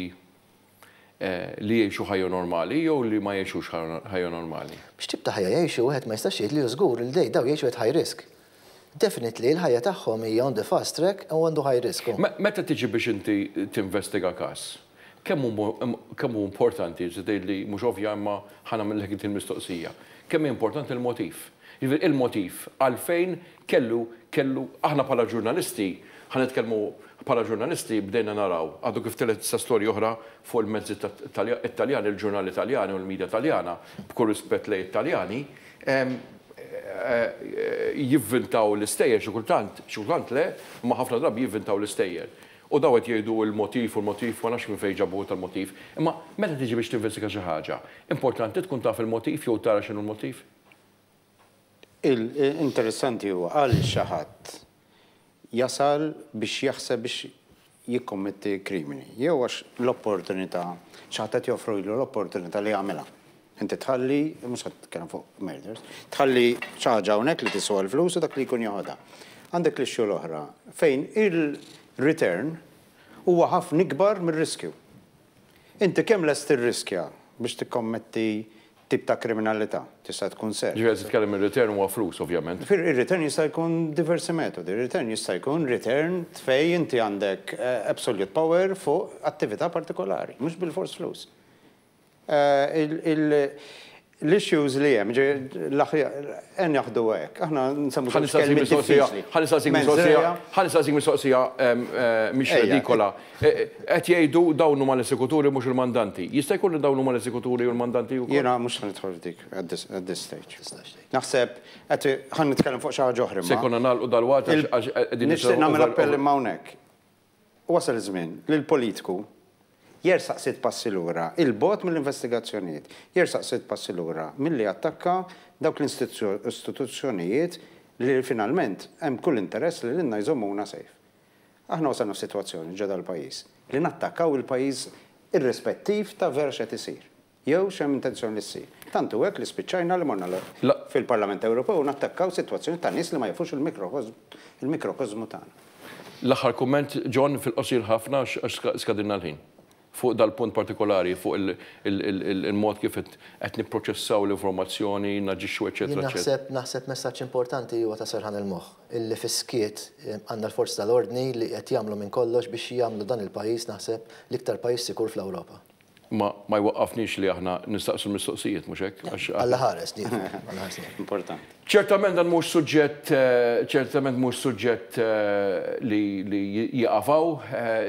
li jgħixu ħajja normali jew li ma jgħixux ħajja normali. X'tip ta' ħajja jgħixu wieħed ma jistax jgħid li hu żgur li dawn jgħixu at high risk. Definitely, l-ħajja tagħhom hija on the fast track u għandu high risk hu. Meta tiġi biex inti tinvestiga każ, kemm hu kemm hu importanti, inti tgħidli mhux ovvja imma ħa nagħmillek inti l-mistoqsija, kemm hi importanti l-motiv. Jiġifieri il-motiv għalfejn kellu kellu aħna bħala ġurnalisti, ħa nitkellmu bħala ġurnalisti bdejna naraw, għadu kif telgħet issa storja oħra fuq il-mezzi Taljani, il-ġurnali Taljani u l-media Taljana, b'kull rispett lejn it-Taljani, jivvintaw l-istejjer xi kultant, xi kultant le, imma ħafna drabi jivvintaw l-istejjer. U dawn qed jgħidu l-motiv u l-motiv, ma nafx minn fejn ġabuh tal-motiv. Imma meta tiġi biex tinvestiga xi ħaġa, importanti tkun taf il-motiv jew tara x'inhu l-motiv? Interessanti huwa, qal xi ħadd jasal biex jaħseb biex jikkommetti krimini, jew għax l-opportunità, xi ħadd qed joffrilu l-opportunità li jagħmilha. Inti tħalli, mhux qed titkellem fuq murders, tħalli xi ħaġa hawnhekk li tiswa l-flus u dak li jkun joħodha. Għandek l-issue l-oħra fejn il-return huwa ħafna ikbar mir-riskju. Inti kemm lest tirriskja biex tikkommetti tip ta' kriminalità? Tista' tkun ser. Ġifieri qed titkellem ir-return huwa flus ovvjament. Ġifieri ir-return jista' jkun diversi metodi. Ir-return jista' jkun return fej inti għandek absolute power fuq attività partikolari, mhux bilfors flus. Il, il, L-issues li hemm, ejja naħduha hekk, aħna nsemmu żewġ kelmiet diffiċli. Ħa nistaqsik mistoqsija, ħa nistaqsik mistoqsija mhix redikola. Qed jgħidu dawn huma l-esekuturi mhux il-mandanti. Jista' jkun li dawn huma l-esekuturi u l-mandanti wkoll? Jiena mhux se nidħol f'dik at this stage. Naħseb qed ħa nitkellem fuq xi ħaġa oħra imma. Se jkollna nagħlqu dalwaqt għax qegħdin nisimgħu. Nixtieq nagħmel appell imma hawnhekk. Wasal iż-żmien li l-politiku jersaq sitt passi lura 'il bogħod mill-investigazzjonijiet, jersaq sitt passi lura milli jattakka dawk l-istituzzjonijiet li finalment hemm kull interess li lilna jżommuna safe. Aħna wasalna f'sitwazzjoni ġo dal-pajjiż li nattakkaw il-pajjiż irrispettiv ta' vera x'qed isir. Jew x'hemm intenzjoni li ssir. Tant hu hekk li spiċċajna li morna lura fil-Parlament Ewropew u nattakkaw sitwazzjonijiet ta' nies li ma jafux il-mikrokosmu tagħna. L-aħħar kumment, John, fil-qosir ħafna għax skadilna l-ħin. Fuq dal-punt partikolari, fuq il-mod kif qed nipproċessaw l-informazzjoni, naġixxu eċċetera eċċetera. Jien naħseb messaġġ importanti huwa ta' serħan il-moħħ, illi fis-skiet għandna l-forzi tal-ordni li qed jagħmlu minn kollox biex jagħmlu dan il-pajjiż naħseb l-iktar pajjiż sikur fl-Ewropa. Imma ma jwaqqafniex li aħna nistaqsu l-mistoqsijiet, mhux hekk? Għax. Alla ħares, nieqfu. Alla ħares nieqfu. Importanti. Ċertament dan mhux suġġett, ċertament mhux suġġett li li jieqaf hawn.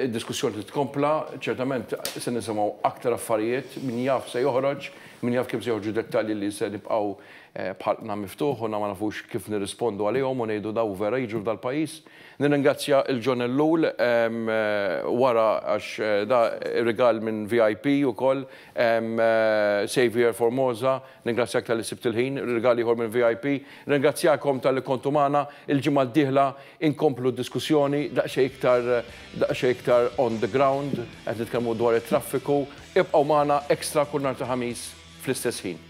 Id-diskussjoni trid tkompla. Ċertament se nisimgħu aktar affarijiet, min jaf x'se joħroġ, min jaf kemm se joħorġu dettalji li se nibqgħu b'ħalqna miftuħ u na ma nafux kif nirrispondu għalihom u ngħidu dawn vera jiġru f'dal-pajjiż. Nirringrazzja lil John Ellul wara għax da rigal minn VIP ukoll, Saviour Formosa, ningrazzjak talli sibt il-ħin, rigal ieħor minn VIP. Nirringrazzjakom talli kontu magħna, il-ġimgħa d-dieħla inkomplu d-diskussjoni daqsxejn iktar daqsxejn iktar on the ground, qed nitkellmu dwar it-traffiku. Ibqgħu magħna, Extra kull nhar ta' Ħamis fl-istess ħin.